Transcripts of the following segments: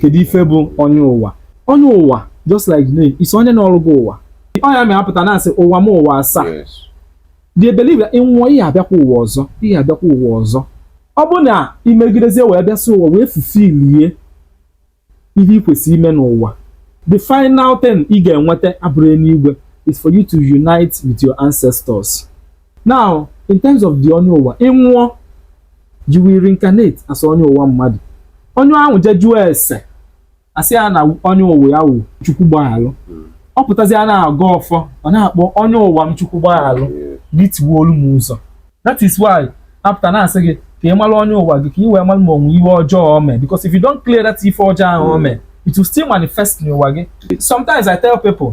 kedu ife bụ onye ụwa onye ụwa just like the name is onye nọlụ gị ụwa ọ ya mere a pụta na-asị ụwa m ụwa asaa they believe that ị nwụọ ị ya-abịakwa ụwa ọzọ ị ya-abịakwa ụwa ọzọ ọ bụ na i megidezie wee bịasị ụwa wee fulfill ihe ị kwesịrị ime n'ụwa the final thing ị ga-enweta abụrọ enuigwe is for you to unite with your ancestors now in terms of the onye ụwa ị nwụọ you will reincarnate as onye ụwa mmadụ onye ahụ je jụọ ese a sị ya na onye ụwa ya wụ chukwu gbaghalụ ọ pụtazia na-agọ ọfọ ọ na-akpọ onye ụwa m chukwu gbaghalụ gị tiwaalụ m ụzọ that is why a pụta na-asị gị ka ị mara onye ụwa gị ka ị wee mara ma o nwe ihe ọjọọ o mee because if you don't clear that ife ọjọọ ahụ o mee it will still manifest n'ụwa gị sometimes I tell people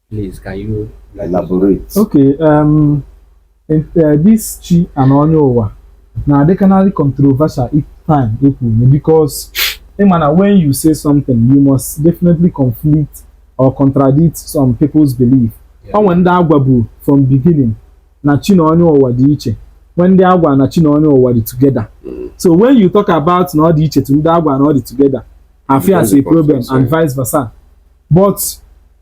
Please, can you elaborate? Okay, um, and, uh, this chi and onye ụwa na-adịkanarị controversial each time e kwunye because ị ma na eh, when you say something you must definitely conflict or contradict some people's belief o nwe ndị a gwabu from beginning na chi na onye ụwa dị iche nwee ndị a gwa na chi na onye ụwa dị together mm. so when you talk about na ọ dị iche to ndị a gwa na ọ dị together a fụ ya as a problem and vice versa but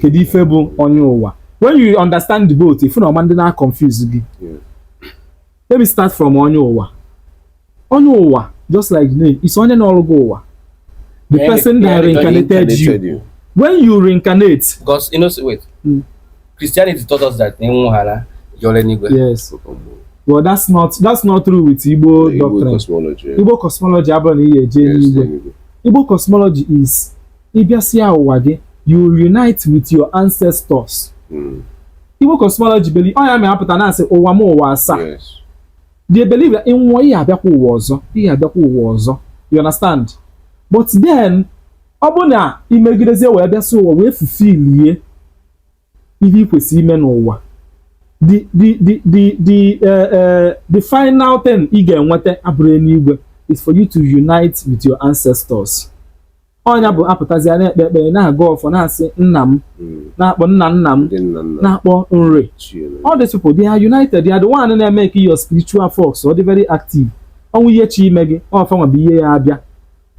kedu ife bụ onye ụwa when you understand the both ị fụ na ọ ma-adị na-confuse gị let me start from onye ụwa onye ụwa just like the name is onye nọlụ gị ụwa the person that reincarnated you when you reincarnate because you know wait mm. Christianity taught us that enwughara yọrọ n'igwe yes well that's not that's not true with Igbo doctrine Igbo cosmology abụrọ na ị ya-eje enuigwe Igbo cosmology is ị bịasịa ụwa gị you unite with your ancestors hmm. Igbo cosmology believe ọ ya a pụta na-asị ụwa m ụwa asaa they believe that ị nwụọ ị ya-abịakwa ụwa ọzọ ị ya-abịakwa ụwa ọzọ you understand but then ọ bụ na i megidezie wee bịasị ụwa wee fulfill ihe ị kwesịrị ime n'ụwa the the the the the uh, uh, the final thing ị ga-enweta abụrọ enuigwe is for you to unite with your ancestors ọ nya bụ a pụtazia na-ekpe ekpere na-agọ ọfọ na-asị nna m hmm. na-akpọ nna nna m na-akpọ nri all these people they are united they are the one na-eme ka your spiritual force ọ dị very active o nwee ihe chọ ime gị ọ fa nwa bụ ihe ya-abịa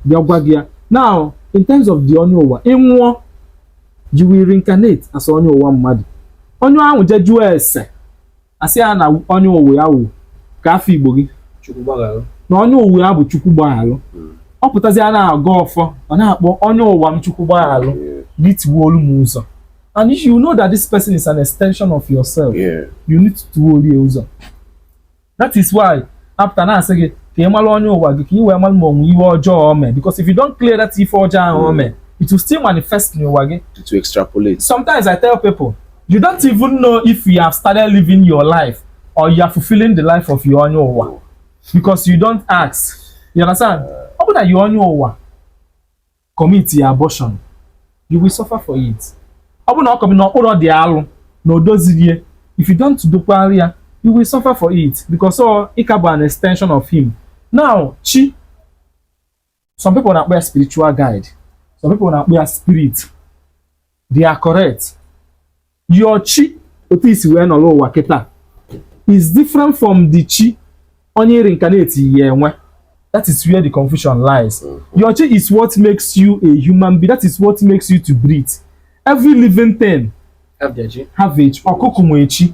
bịa gwa gị ya now in terms of the onye ụwa ị nwụọ you will reincarnate as onye ụwa mmadụ onye ahụ je jụọ ese asị ya na onye ụwa ya wụ ka afọ igbo gị na onye ụwa ya bụ chukwu gbaghalụ hmm. ọ pụtazi a na-agọ ọfọ ọ na-akpọ onye ụwa m chukwu gbaghalụ gị tiwalụ m ụzọ and if you know that this person is an extension of yourself yeah. you need to tiwalụ ya ụzọ that is why a pụta na-asị gị ka ị mara onye ụwa gị ka ị wee mara ma o nwe ife ọjọọ o mee because if you don't clear that ife ọjọọ ahụ o mee it will still manifest n'ụwa gị to extrapolate sometimes i tell people you don't even know if you have started living your life or you are fulfilling the life of your onye ụwa because you don't ask you understand ọ bụ na your onye ụwa commitia abortion you will suffer for it ọ bụ na o commit na ọ kpụrọ the alụ na o doziro ye if you don't dokwara ya you will suffer for it because ị ka bụ an extension of him now chi some people na-akpọ ya spiritual guide some people na-akpọ ya spirit they are correct your chi otu i si wee nọrọ ụwa kịta is different from the chi onye reincarnate yi enwe that is where the confusion lies mm-hmm. your chi is what makes you a human being that is what makes you to breathe every living thing have their chi have a chi ọkụkụ nwe chi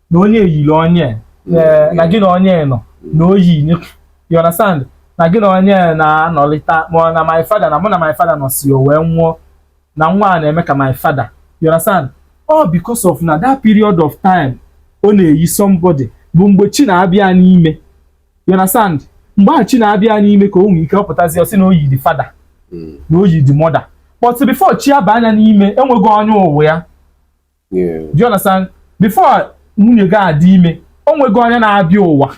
na onye yiri onye eh, na gị na onye nọ na o yi onye you understand na gị na onye na-anọlịta mụ na my father na mụ na my father nọsịa o wee nwụọ na nwa a na-eme ka my father you understand all because of na that period of time ọ na-eyi somebody bụ mgbe chi na-abịa n'ime you understand mgbe ahụ chi na-abịa n'ime ka o nwee ike ọ pụtazi ọ sị na o yi the father na o yi the mother but before chi aba anya n'ime e nwego onye ụwa ya do you understand before nwunye gị adị ime o nwego onye na-abịa ụwa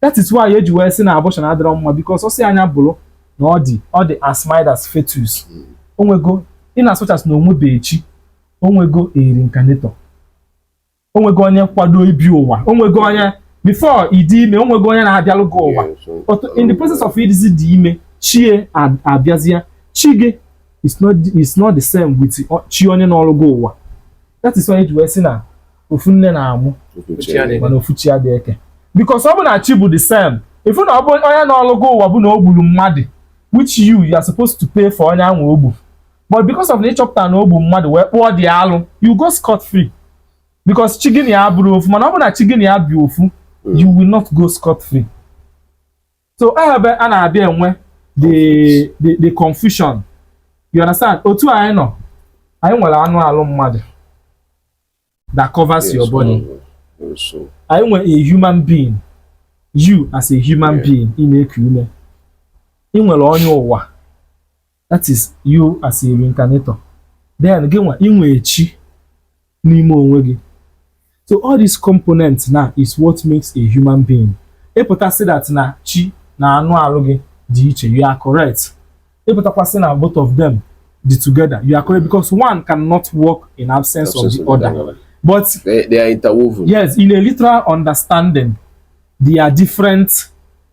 that is why eji wee sị na abortion adịrọ mma because ọ sị anya bụrụ na ọ dị ọ dị as mild as fetus hmm. o nwego in as much as na o nwebe chi o nwego a reincarnator o nwego onye kwado ịbịa ụwa o nwego onye before ị dị ime o nwego onye na-abịalụ gị ụwa in the process of ịdịzi the ime chi abịazịa chi gị it's not it's not the same with chi onye nọlụ gị ụwa that is why eji wee sị na ofu nne na-amụ mana ofu chi adị eke because ọ bụ na chi bụ the same ị fụ na ọ bụ onye nọlụ gị ụwa bụ na o gburu mmadụ which you you are supposed to pay for onye ahụ o gbu but because of na ị chọpụta na o gbu mmadụ wee kpụọ the alụ you go scot free because chi gị na ya abụrọ ofu mana ọ bụ na chi gị na ya bụ ofu you will not go scot free so ebe a na-abịa enwe the the the confusion you understand otu anyị nọ anyị nwere anụ alụ mmadụ that covers your body anyị nwere a human being you as a human being ị na-eku ume ị nwere onye ụwa that is you as a reincarnator then gị nwa i nwe chi n'ime onwe gị so all these components now is what makes a human being ị pụta sị that na chi na anụ arụ gị dị iche you are correct ị pụtakwa sị na both of them dị together you are correct because one cannot work in absence of the other but they, they are interwoven yes in a literal understanding they are different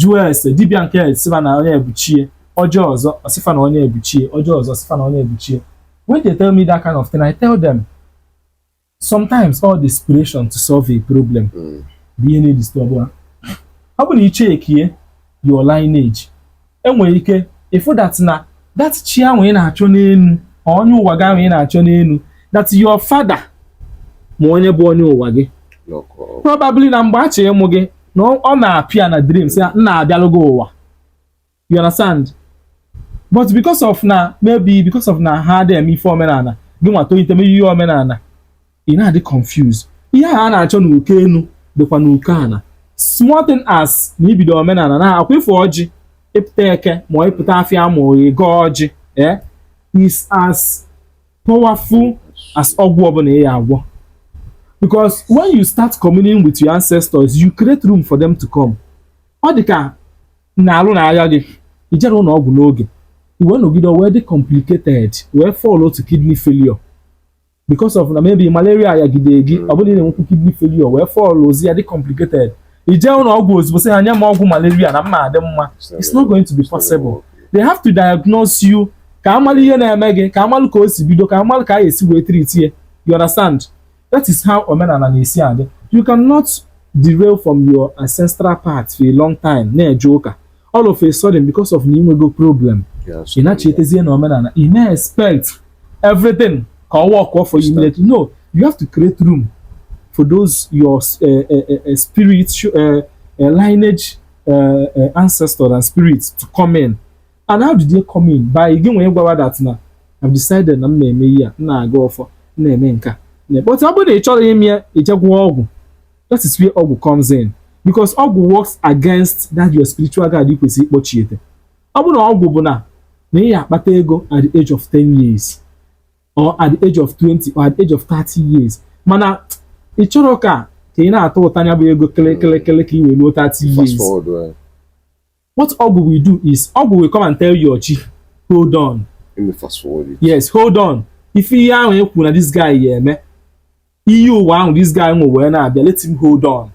jụọ ese dibịa nke sị fa na onye a bụ chi e ọ jụọ ọzọ ọ sị fa na onye a bụ chi e ọ jụọ ọzọ ọ sị fa na onye a bụ chi e when they tell me that kind of thing i tell them sometimes all the desperation to solve a problem hmm. bụ ihe na-edisturb ha ọ bụ na i checkie your lineage i nwere ike ịfụ that na that chi ahụ ị na-achọ n'elu onye ụwa gị ahụ ị na-achọ n'elu that your father ma onye bụ onye ụwa gị probably na mgbe a chọrọ ịmụ gị na ọ na-appear na dream sị ya nna abịalụ gị ụwa you understand but because of na maybe because of na ha adị eme ife omenala gị nwa tolite mee ihe omenala ị na-adị confused ihe a na-achọ n'uko enu dịkwa n'uko ana small thing as na ibido omenala na akwa ịfụ ọjị ị pụta eke ma ị pụta afịa ma ị gọọ ọjị eh? is as powerful as ọgwụ ọbụla ị ya-agwọ because when you start communing with your ancestors you create room for them to come ọ dị ka na arụ na-aya gị i jerọ ụnọ ọgwụ n'oge i wee nọgide ọ wee dị complicated wee fall out to kidney failure because of na maybe malaria yagide gị ọ bụ na ị na-enwekwu kidney failure wee fall ozi ya dị complicated i je ụnọ ọgwụ ozugbo sị ha nye m ọgwụ malaria na m ma-adị mma it's not going to be possible they have to diagnose you ka a malụ ihe na-eme gị ka a malụ ka o si bido ka a malụ ka a ga-esi wee treatie ya you understand that is how omenala na-esi adị you cannot derail from your ancestral path for a long time na-eje ụka all of a sudden because of na i nwego problem ị na-echetezie na omenala ị na-expect everything ka ọ work for you immediately no you have to create room for those your uh, uh, uh, spirit uh, uh, lineage uh, uh, ancestor and spirit to come in and how did they come in by gị nwa ịgwa ha that na I've decided na m na-eme ihe a m na-agọ ọfọ m na-eme nka but ọ bụrụ na ị chọrọ ime ya i je gwọọ ọgwụ that is where ọgwụ comes in because ọgwụ works against that your spiritual guide ị kwesịrị ịkpọchiete ọ bụrụ na ọgwụ bụ na na ị ya-akpata ego at the age of 10 years or at the age of 20 or at the age of 30 years mana ị chọrọ ka ka ị na-atụta nya bụ ego kele kele kele ka ị wee luo 30 years What ọgwụ will do is ọgwụ will come and tell your chi, hold on. Let me fast forward it. Yes, hold on. Ife ihe ahụ ekwu na this guy ya eme, iyi ụwa ahụ this guy nwe wee na-abịa, let him hold on.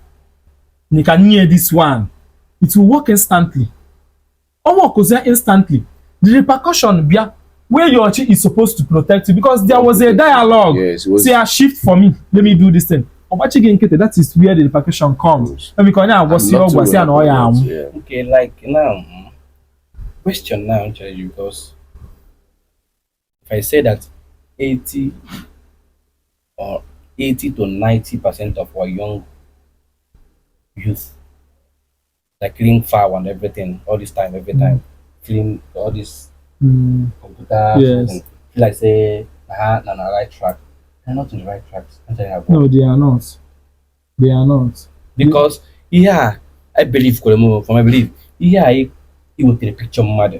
You can hear this one. It will work instantly. Ọ workzia instantly. The repercussion bịa where your chi is supposed to protect you because there was a dialogue yes, was... say a shift for me let me do this thing ọgbachi gị nkịtị that is where the repercussion comes ebe ka onye agwọsi ọgwa si ya na ọ ya anwụ okay like now mm, question now actually because if i say that 80 or 80 to 90 percent of our young youth like clean file and everything all this time every time clean all this Mm. computer Yes. something. feel like say na her na na right track na not on the right track i'm telling you No, they are not. They are not. because ihe a i believe kwere m from i believe ihe a i i wetere picture mmadụ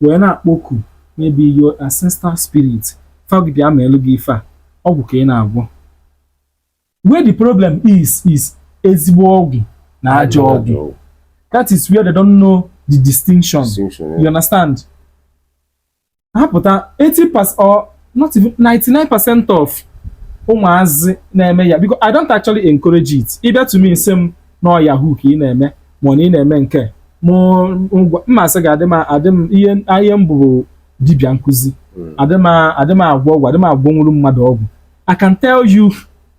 wee na-akpọku maybe your ancestral spirit fa gị bịa meelụ gị ife a ọgwụ ka ị na-agwọ where the problem is is ezigbo ọgwụ na ajọ ọgwụ that is where they don't know the distinction, distinction yeah. you understand ha pụta 80 percent or not even 99 percent of ụmụazị na-eme ya because I don't actually encourage it ị bịa to me sị m na yahoo ka ị na-eme ma ọ na ị na-eme nke a. mụ ngwa m asị gị adị m adị m ihe ihe m bụ bụ dibịa nkuzi Mm. adị m adị m agwọ ọgwụ adị m agwọnwuru mmadụ ọgwụ I can tell you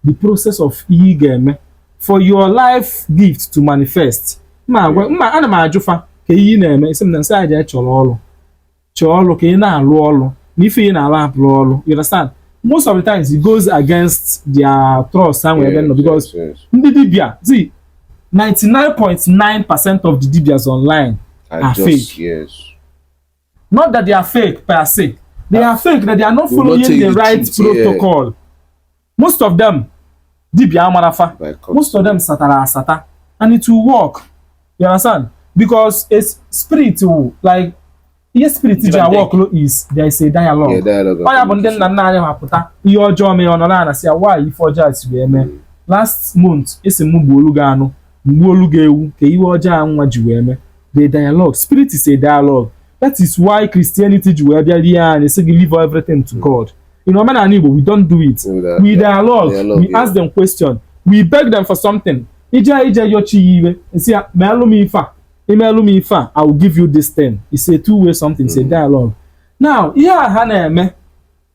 the process of ihe ị ga-eme for your life gift to manifest ma agwa ma ana m ajụ fa kee ihe ị na-eme ị sị m na m sị ya jee chọrọ ọrụ chọọ ọrụ ka ị na-alụ ọrụ na ife ị na-alụ abụrọ ọrụ you understand most of the times it goes against their trust ha nwere ebe nọ because ndị dibia zi 99.9 percent of the dibias online are, are just, fake yes. not that they are fake per se they are fake that they are not following the right protocol. Yeah. most of them dibia amarọ fa most of them satara asata and it will work you understand because it's spiritual like ihe spirit ji awork is there is a dialogue ọ ya bụ ndị nna nna anyị ha pụta ihe ọjọọ mee ọ nọrọ a na-asị ya why ife ọjọọ si wee mee hmm. last month esi m gbuolu gị anụ m gbuolu gị ewu ka ihe ọjọọ a nwa ji wee mee the dialogue spirit is a dialogue that is why Christianity ji wee bịa rie anyị sị gị leave everything to hmm. God in omenala Igbo we don't do it we dialogue we ask them question we beg them for something ị jee ị jee yọọ chi ya ihe ị sị ya meelụ m ife a ị meelụ m ife a i will give you this thing it's a two way something it's a mm. dialogue now ihe a ha na-eme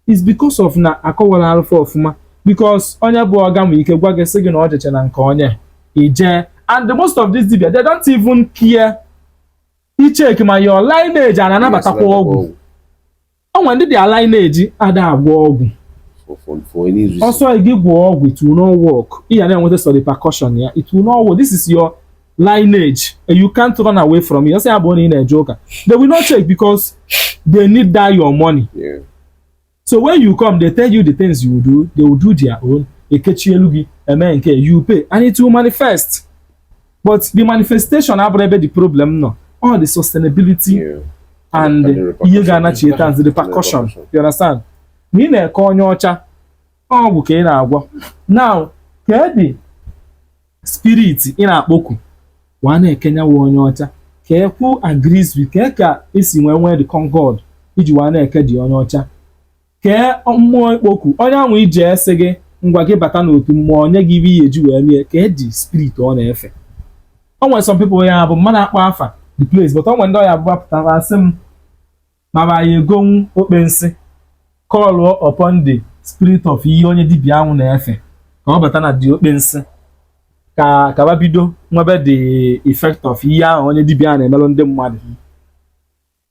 is because of na akọwarọlụ fa ọfụma because onye bụ ọga nwere ike gwa gị sị gị na ọ jeche na nke onye ị jee and the most of these dibia they don't even care icheck ma your lineage a na-anabatakwa ọgwụ o nwere ndị their lineage ada agwọ ọgwụ for for for any reason. ọ sọ gị gwọọ ọgwụ it will not work ị ga na-enweta sọ repercussion ya it will not work this is your lineage and you can't run away from it ọ sọ ya bụ na ị na-eje ụka they will not check because they need that your money Yeah. so when you come they tell you the things you will do they will do their own ekechielu gị eme nke you pay and it will manifest but the manifestation abụrụ ebe the problem nọ or the sustainability yeah. and ihe ga-anachieta the repercussion you understand na ị na-eke onye ọcha ọgwụ ka ị na-agwọ now kee the spirit ị na-akpọku wa na-ekenyawa onye ọcha ka ekwu agrees with kee ka esi nwee nwee the concord iji wa na-eke the onye ọcha kee mmụọ ikpoku onye anwụ i je e sị gị ngwa gị bata n'otu mmụọ o nye gị ibe ihe eji wee mie kee the spirit ọ na-efe o nwere some people ya bụ m ma na-akpọ afa the place but o nwere ndị ọ ya-abụ ba pụtara a sị m mara ya egonwu okpensi call upon the spirit of ihe onye dibia anwụ na-efe ka ọ bata na the okpensi ka ka ba bido nwebe the effect of ihe ahụ onye dibia na-emelụ ndị mmadụ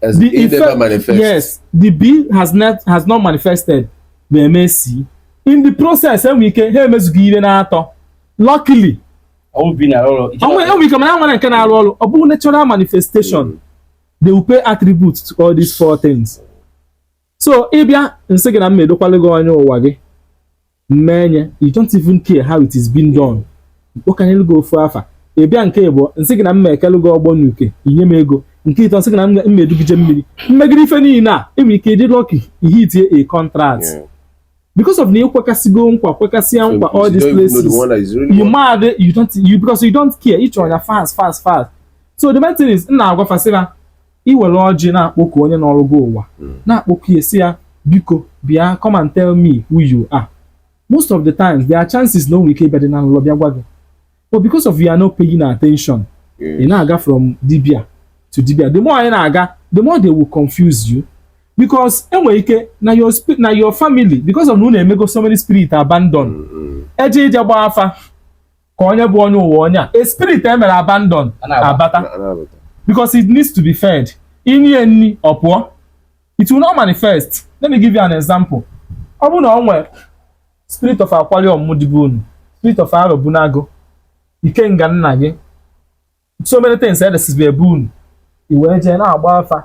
As the, the effect, manifest. Yes, the B has not has not manifested the MSC. In the process, enwere ike ha emezughị ihe na-atọ. Luckily, enwere ike mana ha nwere nke na-arụ ọrụ ọ bụghị natural manifestation mm. they will pay attribute to all these four things. So ị bịa m sị gị na m edokwalụ gị onye ụwa gị mmeenye you don't even care how it is being done m kpọkanyelu gị ofu afa ị bịa nke ịbụa m sị gị na m ma-ekelu gị ọgbọ n'uke i nye m ego nke ịtọ m sị gị na m ma-edu gị je mmiri m megide ife niile a enwere ike ịdị lucky i hitie a contract because of na ị kwekasịgo nkwa kwekasịa nkwa all these pledges you made you don't you because you don't care ị chọrọ ya fast fast fast so the main thing is na agwa fasịra i were ọjị na-akpọku onye nọrọ gị ụwa hmm. na-akpọku ya sị ya biko bịa come and tell me who you are most of the times there are chances na o nwere ike ịbịadị na nlọ bịa gwa gị but because of you are not paying attention ị na-aga from dibia to dibia the more na ị na-aga the more they will confuse you because enwere ike na your na your family because of na unu emego so many spirit abandon hmm, hmm. eje ije gbaa afa ka onye bụ onye ụwa onye a spirit e mere abandon abata because it needs to be fed i nye ya nni ọ pụọ it will not manifest let me give you an example ọ bụrụ na ọ nwere spirit of akwali ọmụmụ dị be unu spirit of Arobunagu ikenga nna gị so many things dịsịsị be unu i wee jee na-agba afa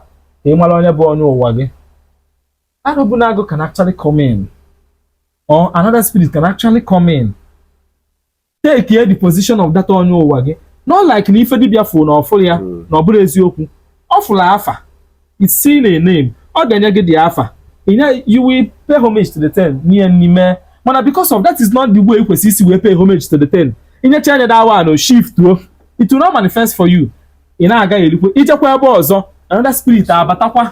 ka ị mara onye bụ onye ụwa gị Arobunagu can actually come in, or another spirit can actually come in, takie the position of that onye ụwa gị, not like na ife dibịa fụ na ọ fụlụ ya hmm. na ọ bụrọ eziokwu, ọ fụlụ afa, it's seen a name, ọ ga-enye gị the afa, you will pay homage to the thing nye ya nni mana because of that is not the way kwesịrị isi wee pay homage to the thing i nyecha anya that one o shift o it will not manifest for you ị na-agagharịkwa i jekwa ebe ọzọ another spirit abatakwa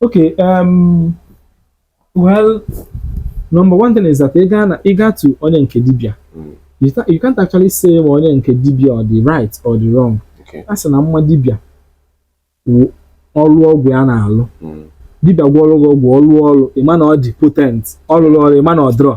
Okay, um, well, number one thing is that ị gaa na ị gaa to onye nke dibịa Mm. you, ta- you can't actually say ma onye nke dibịa ọ dị right or dị wrong Okay. a sị na mma dibịa wụ ọrụ ọgwụ ya na-alụ Mm. dibịa gwọrọ gị ọgwụ ọ rụọ ọrụ ị ma na ọ dị potent ọ rụrọ ọrụ ị ma na ọ dịrọ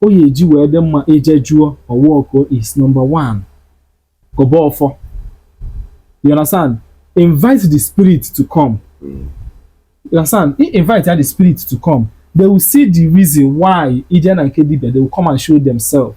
o ya eji wee dị mma ije jụọ ọwọko is number one gọba ọfọ you understand invite the spirit to come mm. you understand he invite the spirit to come they will see the reason why ije na nke dibia they will come and show themselves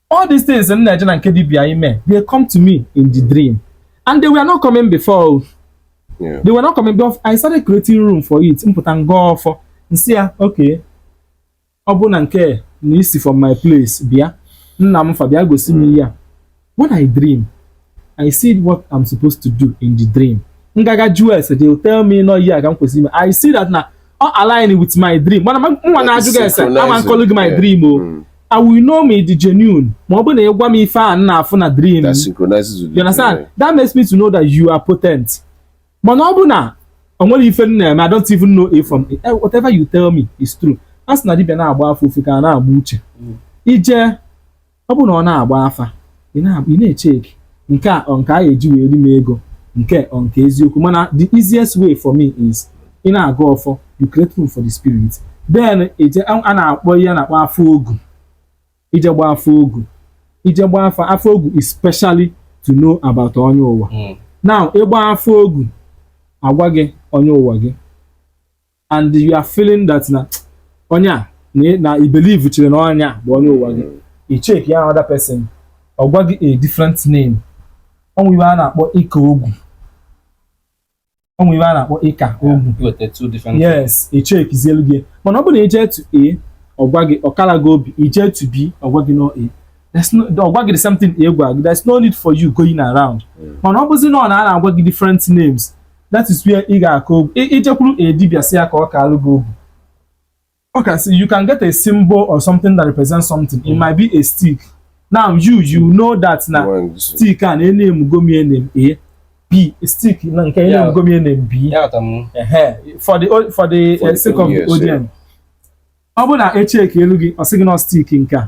All these things m na-eje na nke dibia ime they come to me in the dream and they were not coming before yeah. they were not coming before I started creating room for it m pụta m gọọ ọfọ m sị ya okay ọ bụ na nke na isi from my place bịa nna m fa bịa gosi m ihe a when I dream I see what I'm supposed to do in the dream m gaa ga jụ ese they will tell me na ọ ihe a ka m kwesịrị ime I see that na ọ align with my dream mana mụwa na-ajụ gị ese ama m kọlụ gị my dream o mm. I will know ma ị dị genuine ma ọ bụ na ị gwa m ife a m na-afụ na dream you understand that makes me to know that you are potent mana ọ bụ na o nwerọ ife m na-eme I don't even know if from eh, whatever you tell me is true a sị na dibịa na-agba afa ofeke a na-agba uche mm. i je ọ bụrụ na ọ na-agba afa ị na-echeki nke a nke a ga-eji wee ri m ego nke ọ nke eziokwu mana the easiest way for me is ị na-agọ ọfọ you create room for the spirit then ihe a na-akpọ ihe a na-akpọ afa ogu i je gba afa ogu i je gba afa afa ogu is specially to know about onye ụwa hmm. now ị gba afa ogu a gwa gị onye ụwa gị and you are feeling that na onye a na i believe chere na onye a bụ onye ụwa gị i check ya another person ọ gwa gị a different name o nwe ife a na-akpọ ịka ogu o nwe ife a na-akpọ ịka ogu yes e checkzielu gị mana ọ bụrụ na i je to A ọ gwa gị ọ kara gị obi i je to B ọ gwa gị na ọ A ọ gwa gị the same thing A gwa gị there's no need for you going around hmm. mana ọ bụzi na ọ na-agwa gị different names that is where ị ga-aka ogu i jekwuru a dibia sị ya ka ọ kaalụ gị ogu okay so you can get a symbol or something that represents something it might be a stick now you you know that na stick a na e namego m ya name A B stick na nke e namego m ya name B for the for the uh, sake of the audience ọ bụ na e chekielu gị ọ sị gị na stick nke a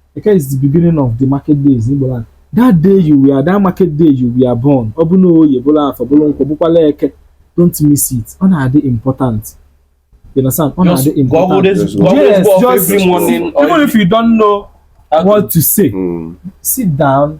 Eke is the beginning of the market days n'Igbo land. That day you were, that market day you were born, ọ bụ na oye bụrụ afọ bụrụ nkwọ bụkwalụ eke, don't miss it. Ọ na-adị important. You understand? Ọ na-adị important. Yes, just even if you don't know what to say, mm. sit down,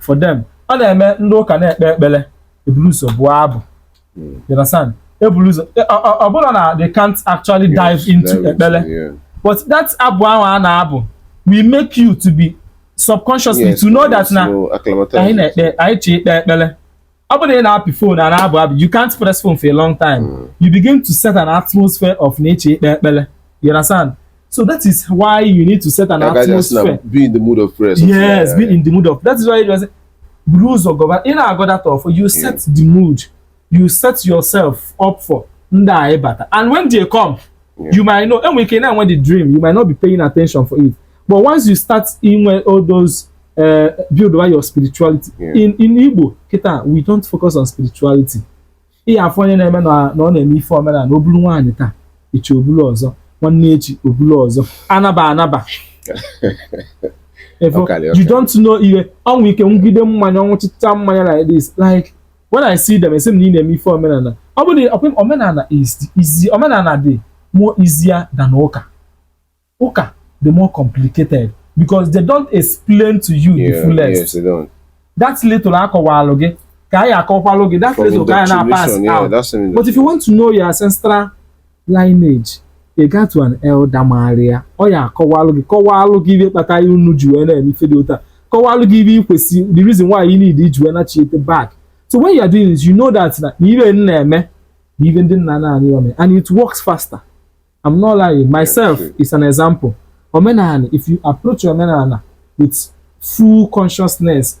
for them ọ na-eme ndị ụka na-ekpe ekpere e buru ụzọ bụọ abụ hmm. you understand e buru ụzọ e, ọ bụrụ na they can't actually dive into ekpere but that abụ ahụ a na-abụ will make you to be subconsciously to know that na anyị na-ekpe anyị chọ ikpe ekpere ọ bụrụ na ị na-apị fon a na-abụ abụ you can't press phone for a long time mm. you begin to set an atmosphere of na ị chọ ikpe ekpere you understand so that is why you need to set an like atmosphere be in the mood of prayer yes be in the mood of that is why you just buru ụzọ gọba ị na-agọ that ọfọ you mm. set the mood you set yourself up for ndị a ịbata and when they come you might know i nwere ike na-enwe the dream you might not be paying attention for it but once you start inwe all those uh, buildba your spirituality yeah. in in Igbo kita we don't focus on spirituality ị ya-afụ onye na-eme na ọ na-eme ife omenala na o bulu nwaanyị taa echi o bulu ọzọ nwanne echi o bulu ọzọ anaba anaba you don't know ihe o nwe ike ṅụgide mmanya ọ ṅụchịcha mmanya like this like when I see them asị m na ị na-eme ife omenala ọ bụ na ọkwa omenala easy omenala dị more easier than ụka ụka dị more complicated because they don't explain to you yeah, the fullest yes, they don't. that little a kọwalụ gị ka a ya-akọwalụ gị that little ka anyị na-pass out but if you want to know your ancestral Lineage, Ị gaa to an elder maara ya, ọ ya-akọwalụ gị kọwalụ gị ibe kpata ya unu ji wee na-eme ife dị otu a kọwalụ gị ibe i kwesị the reason why you need iji wee nachiete back so when you are doing this you know that na ibe m na-eme na ibe ndị nna nna anyị ome and it works faster I'm not lying myself is an example omenala if you approach omenala with full consciousness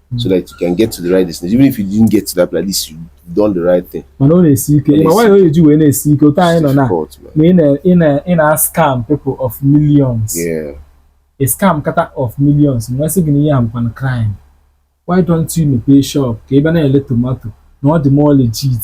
so that you can get to the right destination even if you didn't get to that place at least you done the right thing mana ọ na-esi ike mana why o ji wee na-esi ike otu anyị nọ na na ị na-ascam people of millions yeah. ị scamkata of millions m wee sị gị na ihe a bụkwanụ crime why don't you mepee shop ka ị bịa na-ele tomato na ọ dị more legit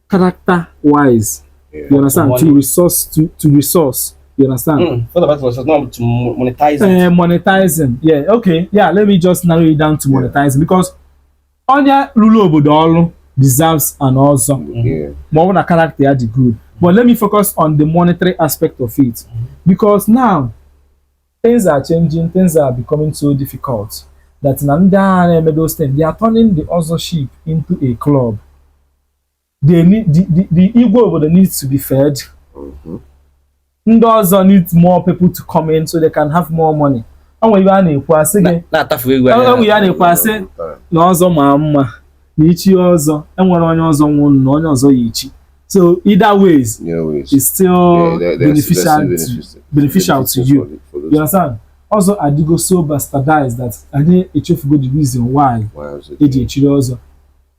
character wise yeah. you understand to, to resource to, to resource you understand mm, what about resource not to monetize uh, monetizing yeah okay yeah let me just narrow it down to yeah. monetizing because onye rule obodo ọrụ deserves an ọzọ ma ọ bụ na character ya dị good but let me focus on the monetary aspect of it mm-hmm. because now things are changing things are becoming so difficult that na ndị agha na-eme those things they are turning the other ship into a club the, the, the, the Igwe obodo needs to be fed. Mm -hmm. Ndị ọzọ need more people to come in so they can have more money. E nwe ibe a na-ekwu a sị gị. Na-atafu egwu anya. E nwe ihe a na-ekwu a sị na ọzọ maa mma na ichi ọzọ e nwere onye ọzọ nwụrụ na onye ọzọ ya-echi. So either ways, yeah, ways. it's still yeah, they're, they're beneficial, beneficial, to, beneficial to you. For the, for you understand? Ọzọ adịgo so bastardized that anyị echefugo the reason why e ji echi ọzọ.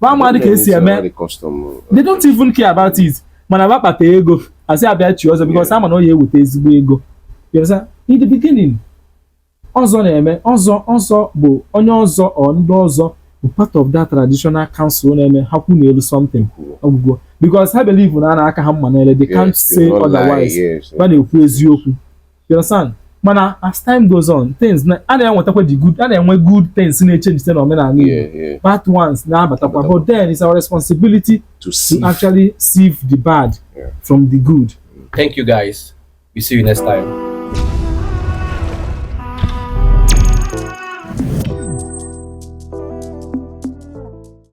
ma amadị ka e si eme they don't even care about it mana ba kpata ego a sị ha bịa chi ọzọ because a ma na ọ ya-eweta ezigbo ego in the beginning ọzọ na-eme ọzọ ọzọ bụ onye ọzọ or ndị ọzọ bụ part of that traditional council na-eme ha kwuo n'elu something ọ gwụgo because ha believe na a na-aka ha mma n'ile they can't say otherwise ba na-ekwu eziokwu you understand mana as time goes on things na a na-enwetakwa the good a na-enwe good things na-echenji site na omenala Igbo Yeah, yeah. bad ones na-abatakwa but then it's our responsibility To to see. actually sieve the bad Yeah. from the good Thank you guys. We see you next time.